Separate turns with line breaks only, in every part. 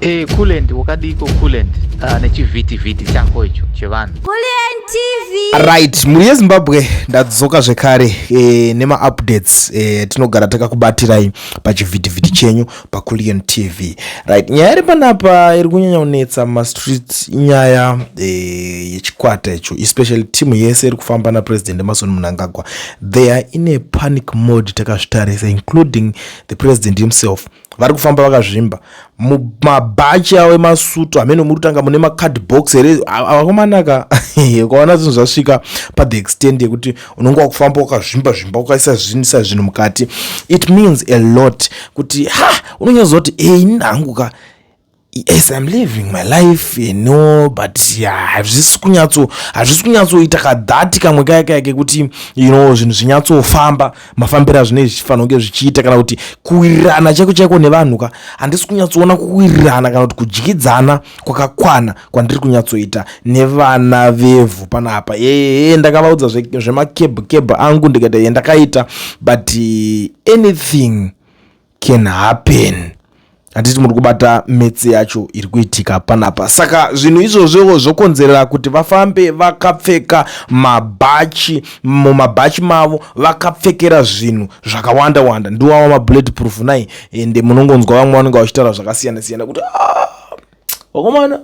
Hey, eh, Kulent wakadiiko Kulent uh, ah, nechivhiti vhiti chako icho chevanhu Kulent TV.
Right, mhuri yeZimbabwe
ndadzoka zvekare eh, nema updates eh, tinogara takakubatirai pachivhiti vhiti chenyu paKulent TV. Right, nyaya iri panapa iri kunyanya kunetsa mumastreets inyaya eh, yechikwata icho especially team yese iri kufamba naPresident Emmerson Mnangagwa. They are in a panic mode takazvitarisa including the president himself vari kufamba vakazvimba mabhachi avo emasutu hameno muri kutanga mune macard box here avakomanaka ukaona zvinhu zvasvika pathe extend yekuti unenge wakufamba wakazvimba zvimba ukaisa zvinisa zvinhu mukati it means a lot kuti ha unonyazoti ei nhangu ka Yes, I'm living my life you know but hazvisi kunyatso hazvisi kunyatsoita kadhati kamwe kaya kaya kekuti you know zvinhu zvinyatsofamba mafambiro azvinei zvichifanira kunge zvichiita kana kuti kuwirirana chaiko chaiko nevanhu ka handisi kunyatsoona kuwirirana kana kuti kudyidzana kwakakwana kwandiri kunyatsoita nevana vevhu panapa ee ndakavaudza zvemacab cab angu ndikaita yendakaita but anything can happen handiti muri kubata metse yacho iri kuitika panapa saka zvinhu izvozvowo zvokonzerera kuti vafambe vakapfeka mabhachi mumabhachi mavo vakapfekera zvinhu zvakawanda wanda ndiwawa mabullet proof nai ende munongonzwa vamwe vanenge vachitaura zvakasiyana siyana kuti ah, vakomana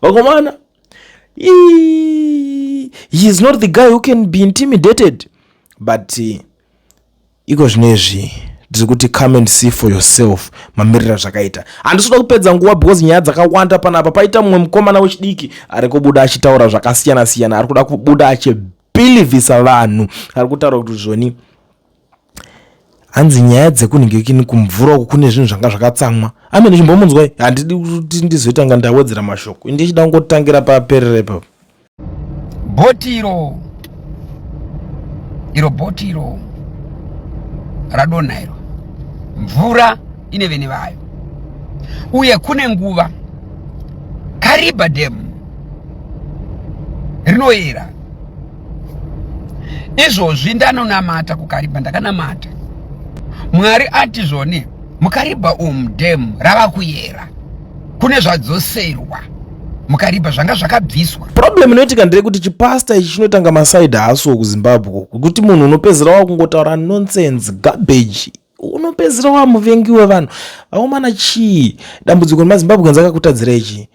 vakomana he is not the guy who can be intimidated but uh, Iko zvinezvi ndiri kuti come and see for yourself mamirira zvakaita handisvoda kupedza nguva because nyaya dzakawanda panapa paita mumwe mukomana wechidiki ari kubuda achitaura zvakasiyana siyana ari kuda kubuda achibhilivhisa vanhu ari kutaura kuti zvoni hanzi nyaya dzekunhingekini kumvura uku kune zvinhu zvanga zvakatsamwa amene chimbomunzwai handidi kuti ndizoita nga ndawedzera mashoko ndichida kungotangira paperere ipapo bhoti iro
iro bhoti iro radonha iro mvura ine vene vayo uye kune nguva kariba demu rinoyera izvozvi ndanonamata kukariba ndakanamata mwari ati zvone mukariba umu demu rava kuyera kune zvadzoserwa mukaripa zvanga zvakabviswa problem inoitika ndeyekuti
chipasta ichi chinotanga masaidi haaso kuzimbabwe kuti munhu unopedzera wakungotaura nonsense garbage unopedzera wamuvengi wevanhu vakomana chii dambudziko remazimbabwe nzi akakutadzira ichii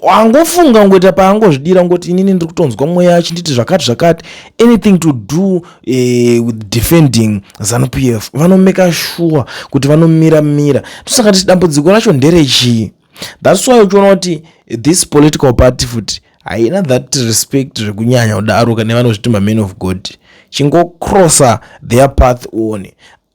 wangofunga ngoita paangozvidira ngoti inini ndiri kutonzwa mweya achinditi zvakati zvakati anything to do eh, with defending zanupf f vanomeka shuwa kuti vanomira mira tosaka tisi dambudziko racho nderechii thats why uchiona kuti this political party futi haina that respect zvekunyanya kudaro kane vanozviti maman of god chingocrossa their path one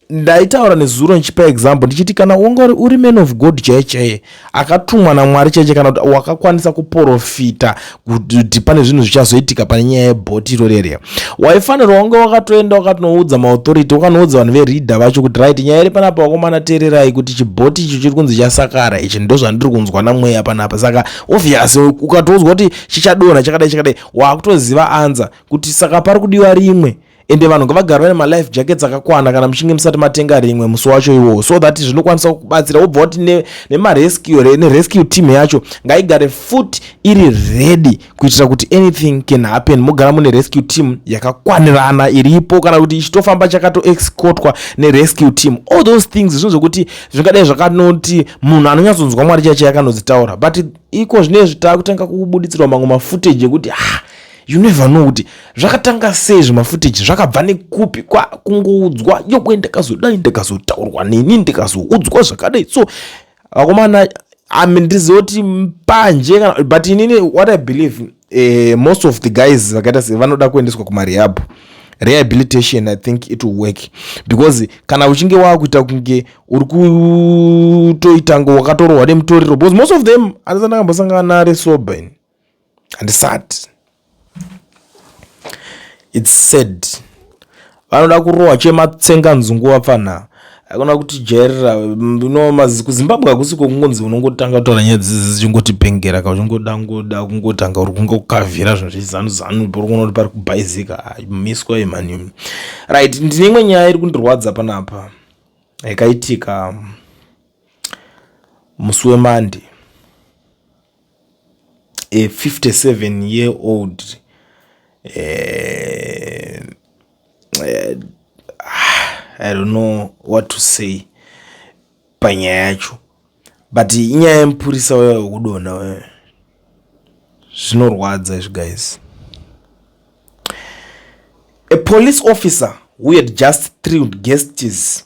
ndaitaura nezuro ndichipa example ndichiti kana wanga uri man of god chaiye chaiye akatumwa namwari chaiche kana kuti wakakwanisa kuprofita kuti pane zvinhu zvichazoitika pane nyaya yebhoti iro rere waifanirwa wange wakatoenda wakatinoudza maauthority wakanoudza vanhu vereader vacho kuti right nyaya iri panapa wakomana teererai kuti chibhoti icho chiri kunzi chasakara ichi ndo zvandiri kunzwa namweya panapa saka obvious ukatoudzwa kuti chichadonha chakadai chakadai wakutoziva anza kuti saka pari kudiwa rimwe ende vanhu ngavagara vane malife jackets akakwana kana muchinge musati matenga rimwe musi wacho iwowo so that zvinokwanisa kubatsira wobva wati nemarescue nerescue team yacho ngaigare foot iri ready kuitira kuti anything can happen mogara mune rescue team yakakwanirana iripo kana kuti ichitofamba chakatoexcotwa nerescue team all those things zvinhu zvokuti zvingadai zvakanoti munhu anonyatsonzwa mwari chaichai akanodzitaura but iko zvine zvitava kutanga kubuditsirwa mamwe mafootage ekuti ah you never know kuti zvakatanga sei zvimafootage zvakabva nekupi kwakungoudzwa yokwe ndakazodai ndakazotaurwa neni ndikazoudzwa zvakadai so vakomana ami ndizoti panje kana but inini what i believe eh, most of the guys vakaita se vanoda kuendeswa kumarehab rehabilitation i think it will work because kana uchinge waakuita kunge uri kutoita ngo wakatorohwa nemutoriro because most of them anazandakambosangana nare sober ini handisati its sad vanoda kurohwa chematsenga nzungu vapfanha hakuna kuti jairira no kuzimbabwe hakusi kwekungonzi unongotanga kutaura nyaya dzidzi dzichingotipengera ka uchingoda ngoda kungotanga uri kunge kukavhira zvinhu zvechizanuzanu pori kuona kuti pari kubhaizika miswa imhani right ndine imwe nyaya iri kundirwadza panapa yakaitika musi wemandi a 57 year old uh, uh, i don't know what to say panyaya yacho but inyaya yemupurisa uya wekudonha uya zvinorwadza izvi guys a police officer who had just thrilled guests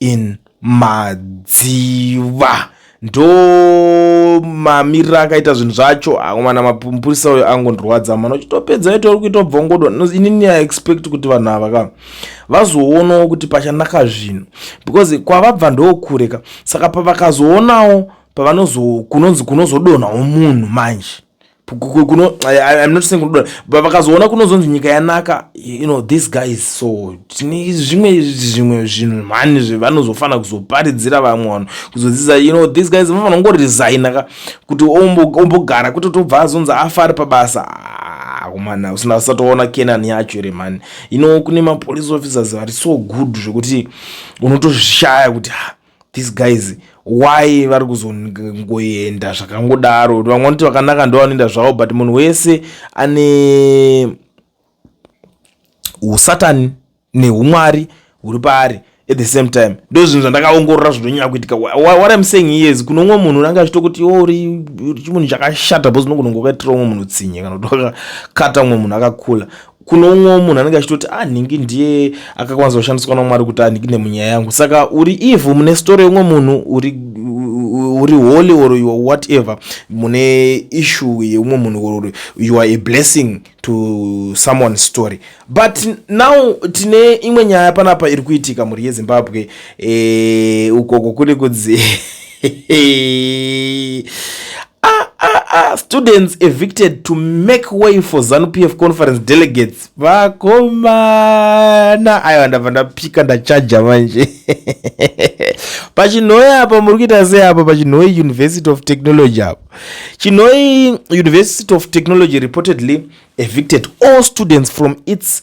in madziva ndo mamirira akaita zvinhu zvacho akomana mapurisa uyo angondirwadza mana uchitopedza ito uri kuita bvongodo inini i expect kuti vanhu ava ka vazoonawo kuti pachanaka zvinhu because kwavabva ndokureka saka pavakazoonawo pavanozo kunonzi kunozodonhawo munhu manje kuno i'm not saying kunodora but vakazoona kunozonzi nyika yanaka you know this guy is so tine zvimwe zvimwe zvinhu mhani zvevanozofanira kuzoparidzira vamwe vanhu kuzodzidza you know this guys vanofanira kungoresigna ka kuti ombogara kwete tobva azonzi afa ari pabasa akomana ah, usina usatoona kenan yacho ere mhani you know kune mapolice officers vari so good zvekuti unotozvishaya kuti ha ah, these guys why vari kuzongoenda zvakangodaro vamwe vanoti vakanaka ndo vanoenda zvavo but munhu wese ane usatani neumwari huri paari at the same time ndo zvinhu zvandakaongorora zvinonyanya kuitika what im saying yes kune umwe munhu unange achito kuti iwo uri chimunhu chakashata bcause unogona kunge wakaitira umwe munhu tsinye kana kuti wakakata umwe munhu akakula kune umwewo munhu anenge achitoti a ah, nhingi ndiye akakwanisa kushandiswa namwari kuti anhingi nemunyaya yangu saka uri evil mune story yeumwe munhu uri uri holy or you are whatever mune issue yeumwe munhu or you are a blessing to someone's story but now tine imwe nyaya panapa iri kuitika mhuri yezimbabwe e, ukoko kuri kudzi ah, ah, ah, students evicted to make way for zanupf conference delegates vakomana aiwa ndabva ndapika ndachaja manje pachinhoi apa muri kuita sei apa pachinhoi university of technology apa chinhoi university of technology reportedly evicted all students from its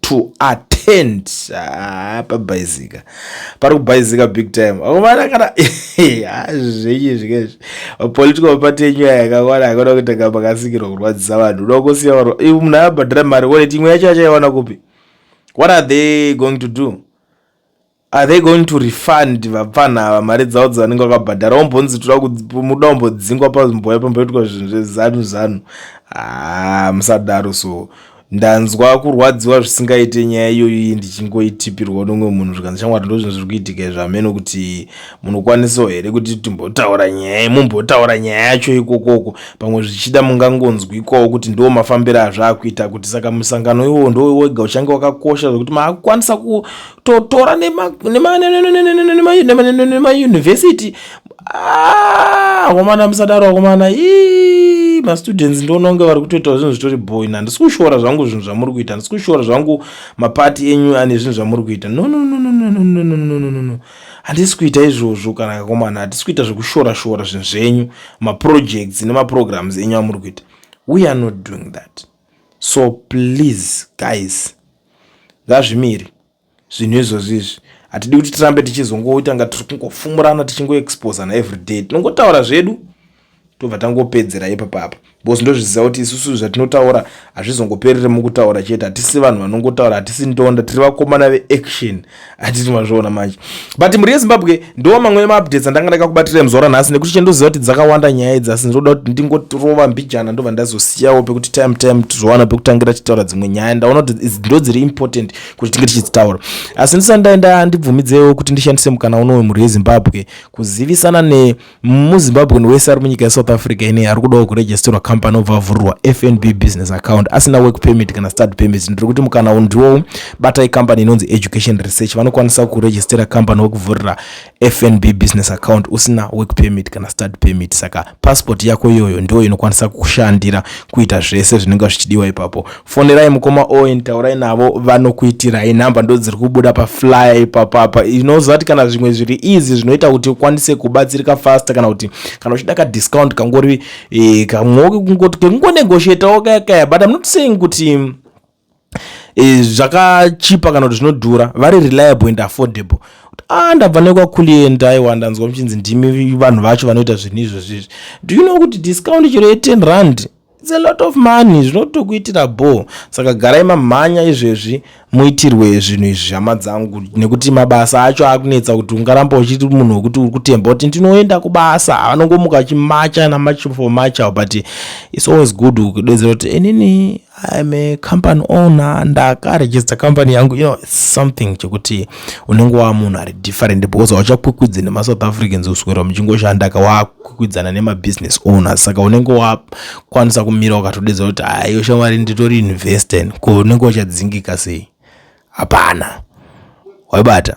to attend ah, pabhaizika pari kubhaizika big time akomana kana ah, zvenyu zvikezvi political party yenyu yakakwana akona kutanga makasikirwa kurwadzisa vanhu unoda kusiya vanhu ivo munhu abhadhira mari waleti imwe yacho achaiwana kupi what are they going to do Are they going to refund vapfanha ava mari dzavo dzavanenge vakabhadhara wombonzi toda muda wombodzingwa pamboya pamboitwa zvinhu zvezanu zanu haa musadaro so ndanzwa kurwadziwa zvisingaite nyaya iyoyo iyi ndichingoitipirwa nomwe munhu zvikanzi shamwari ndo zvinhu zviri kuitika izvo hameno kuti munokwanisawo here kuti timbotaura nyaya mumbotaura nyaya yacho ikokoko pamwe zvichida mungangonzwikwawo kuti ndo mafambiro azvaakuita kuti saka musangano iwowo ndo wega uchange wakakosha zvekuti maakukwanisa totora nemauniversity akomana musadaro akomana ii mastudents ndioona kunge vari kutoitawo zvinhu zvitori boin handisi kushora zvangu zvinhu zvamuri kuita handisi kushora zvangu mapati enyu ane zvinhu zvamuri kuita nononononononononononono handisi kuita izvozvo kana kakomana hatisi kuita zvekushora shora zvinhu zvenyu maprojects nemaprograms enyu amuri kuita we are not doing that so please guys ngazvimiri zvinhu izvozvi izvi hatidi kuti tirambe tichizongoita nga tiri kungofumurana tichingoexposana everyday tinongotaura zvedu tobva tangopedzera ipapapa because ndozviziva kuti isusu zvatinotaura hazvizongoperere mukutaura chete hatisi vanhu vanongotaura hatisi ndonda tiri vakomana veaction hatiti mazviona manje but mhuri yezimbabwe ndo mamwe emaupdates andanga ndakakubatira muzuva ranhasi nekuti chendoziva kuti dzakawanda nyaya idzi asi ndinoda kuti ndingotirova mbijana ndobva ndazosiyawo pekuti time time tizowana pekutangira tichitaura dzimwe nyaya ndaona kuti ndo dziri important kuti tinge tichidzitaura asi ndisandai ndandibvumidzewo kuti ndishandise mukana unowe mhuri yezimbabwe kuzivisana ne muzimbabwean wese ari munyika yesouth africa ine ari kudawo kuregisterwa company obva avhurirwa fnb business account asina work permit kana start permit ndiri kuti mukana uyu ndiwowo batai company inonzi education research vanokwanisa kuregistera company wekuvhurira fnb business account usina work permit kana start permit saka passport yako iyoyo ndiyo inokwanisa kukushandira kuita zvese zvinenge zvichidiwa ipapo fonerai mukoma owen taurai navo vanokuitirai nhamba ndo dziri kubuda paflyer ipapapa inoziva kuti kana zvimwe zviri easy zvinoita kuti ukwanise kubatsirika faster kana kuti kana uchida kadiscount kangori eh, kekungonegotiatawo kaya kaya but im not saying kuti eh, zvakachipa kana kuti zvinodhura vari reliable and affordable ah ndabva nekwakulienda aiwa ndanzwa muchinzi ndimi vanhu vacho vanoita zvinhu izvozvizvi do you know kuti discount chero ye10 rand It's a lot of money zvinotokuitira bho saka garai mamhanya izvezvi muitirwe zvinhu izvi hama dzangu nekuti mabasa acho akunetsa kuti ungaramba uchiti munhu wekuti uri kutemba kuti ndinoenda kubasa anongomuka achimacha namachi for macha but its always good kudedzera kuti inini im a company owner ndakarejista company yangu you know something chekuti unenge waa munhu ari different because hauchakwikwidzi nemasouth africans uswera muchingoshanda ka kukwikwidzana nemabusiness owners saka unenge wakwanisa kumira ukatodedza kuti haiyo shamwari nditori investen ko unenge wachadzingika sei hapana waibata